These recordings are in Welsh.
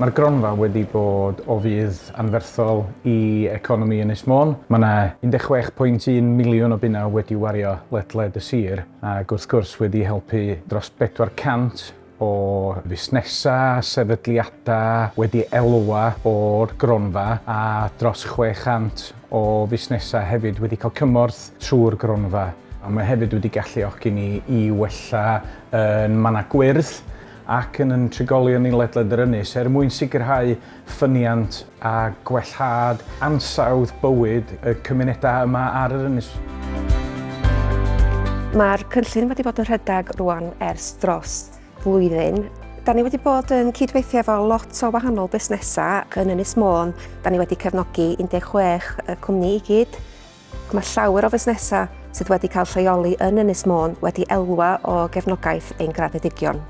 Mae'r gronfa wedi bod o fudd anferthol i economi Ynys Môn. Mae yna 16.1 miliwn o bunnau wedi wario ledled y sir ac wrth gwrs wedi helpu dros 400 o fusnesau, sefydliadau wedi elwa o'r gronfa a dros 600 o fusnesau hefyd wedi cael cymorth trwy'r gronfa, a mae hefyd wedi galluogi ni i wella yn mannau gwyrdd ac yn yn trigolion ni ledled yr ynys er mwyn sicrhau ffyniant a gwellhad ansawdd bywyd y cymunedau yma ar yr ynys. Mae'r cynllun wedi bod yn rhedeg rwan ers dros flwyddyn. Da ni wedi bod yn cydweithio efo lot o wahanol busnesau yn Ynys Môn. Da ni wedi cefnogi 16 y cwmni i gyd. Mae llawer o fusnesau sydd wedi cael lleoli yn Ynys Môn wedi elwa o gefnogaeth ein graddedigion.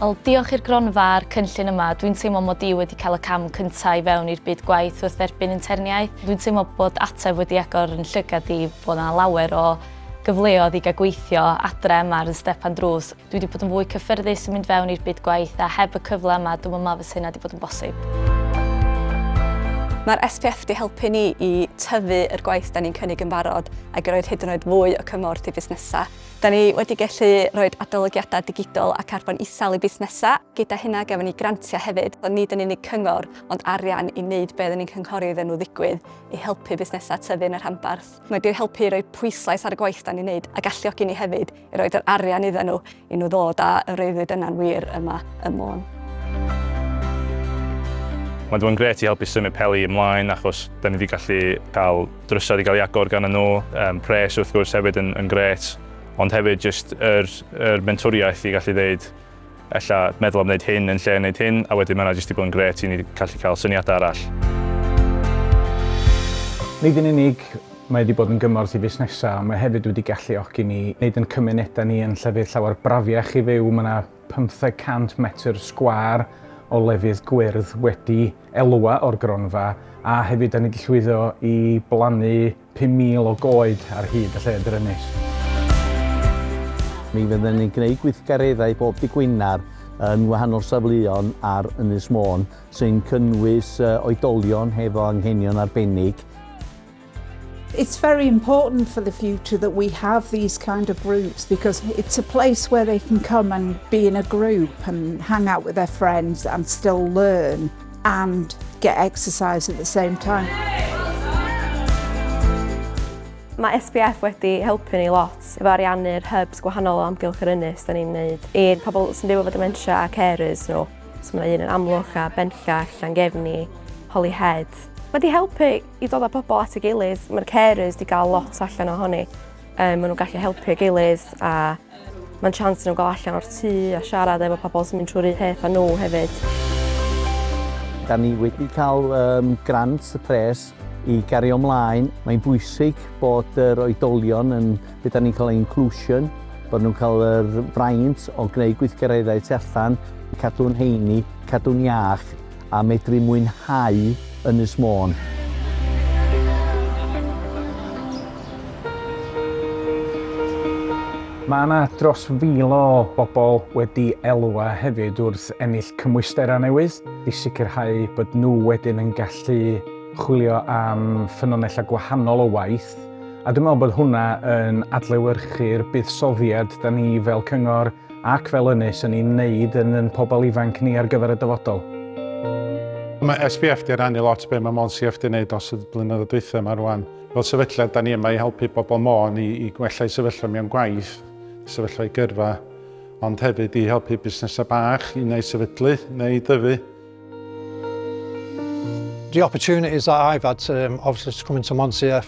Wel, diolch i'r gronfa a'r cynllun yma, dwi'n teimlo mod i wedi cael y cam cyntaf i fewn i'r byd gwaith wrth dderbyn interniaeth. Dwi'n teimlo bod ateb wedi agor yn llygad i, bod yna lawer o gyfleodd i gael gweithio adre yma ar y stepan drws. Dwi wedi bod yn fwy cyffyrddus yn mynd fewn i'r byd gwaith a heb y cyfle yma dwi'n meddwl fysa hynna wedi bod yn bosib. Mae'r SPF wedi helpu ni i tyfu yr gwaith da ni'n cynnig yn barod ac i roed hyd yn oed fwy o cymorth i fusnesau. Da ni wedi gallu rhoi adolygiadau digidol a carbon isel i busnesau. Gyda hynna gafon ni grantiau hefyd, ond nid yn unig cyngor ond arian i wneud beth oedden ni'n cynghori iddyn nhw ddigwydd i helpu busnesau tyfu yn y rhanbarth. Mae wedi helpu i roi pwyslais ar y gwaith da ni'n neud a galluogi ni hefyd i roed yr arian iddyn nhw i nhw ddod a y freuddwyd yna'n wir yma ym Môn. Mae 'di bod yn grêt i helpu symud Peli ymlaen achos 'da ni 'di gallu cael drysau 'di cael ei agor ganddyn nhw, yym pres wrth gwrs hefyd yn yn grêt ond hefyd jyst yr yr mentwriaeth i gallu ddeud Ella meddwl am wneud hyn yn lle wneud hyn, a wedyn mae yna jyst 'di bod yn grêt i ni gallu cael syniadau arall. Nid yn unig mae wedi bod yn gymorth i fusnesau, ond mae hefyd wedi galluogi ni wneud yn cymunedau ni yn llefydd llawer brafiach i fyw. Mae yna 500 metr sgwâr o lefydd gwyrdd wedi elwa o'r gronfa, a hefyd da ni wedi llwyddo i blannu 5,000 o goed ar hyd y lle drynus. Mi fydden ni'n gwneud gweithgareddau bob dydd Gwener yn wahanol safleon ar Ynys Môn, sy'n cynnwys oedolion hefo anghenion arbennig, It's very important for the future that we have these kind of groups because it's a place where they can come and be in a group and hang out with their friends and still learn. and get exercise at the same time. Mae SPF wedi helpu ni lot efo ariannu'r hubs gwahanol o amgylch yr ynys da ni'n wneud i'r pobl sy'n byw efo dementia a carers nhw. So mae un yn amlwch a benllach, Llangefni, Holyhead. Mae wedi helpu i dod â pobl at y gilydd, mae'r carers wedi cael lot allan ohoni. Um, maen nhw'n gallu helpu gilydd a Mae'n chance nhw gael allan o'r tŷ a siarad efo pobl sy'n mynd trwy'r un peth â nhw hefyd. Da ni wedi cael um, grant y pres i gario ymlaen. Mae'n bwysig bod yr oedolion yn beth da ni'n cael inclusion, bod nhw'n cael yr fraint o gwneud gweithgareddau tu allan, cadw'n heini, cadw'n iach, a medru mwynhau Ynys Môn. Mae yna dros fil o bobl wedi elwa hefyd wrth ennill cymwysterau newydd i sicrhau bod nhw wedyn yn gallu chwilio am ffynonellau gwahanol o waith, a dwi'n meddwl bod hwnna yn adlewyrchu'r buddsoddiad 'da ni fel cyngor ac fel ynys yn ein wneud yn yn pobl ifanc ni ar gyfer y dyfodol. Mae SBF 'di rannu lot be mae Môn CF 'di wneud dros y blynyddoedd dwytha ma rwan. Fel sefydliad 'da ni yma i helpu bobl Môn i i gwella eu sefyllfa mewn gwaith, sefyllfa eu gyrfa, ond hefyd i helpu busnesau bach i neu sefydlu neu i dyfu. The opportunities that I've had to um, obviously to come into Môn CF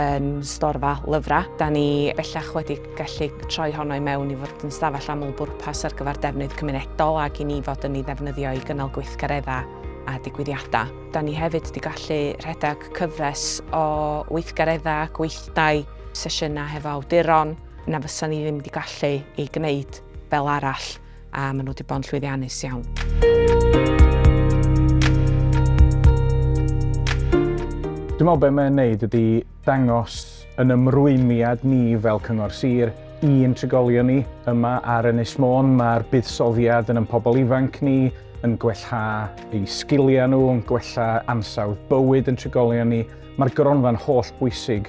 yn storfa lyfrau. Da ni bellach wedi gallu troi honno i mewn i fod yn stafell aml bwrpas ar gyfer defnydd cymunedol ac i ni fod yn ei ddefnyddio i gynnal gweithgareddau a digwyddiadau. Da ni hefyd wedi gallu rhedeg cyfres o weithgareddau, gweithdai, sesiynau hefo awduron na fysa ni ddim wedi gallu ei gwneud fel arall. a maen nhw wedi bod yn llwyddiannus iawn. Dwi'n meddwl beth mae'n neud ydy dangos yn ymrwymiad ni fel Cyngor Sir i'n trigolion ni yma ar Ynys Môn. Mae'r buddsoddiad yn yn pobl ifanc ni, yn gwella eu sgiliau nhw, yn gwella ansawdd bywyd yn trigolion ni. Mae'r gronfa'n holl bwysig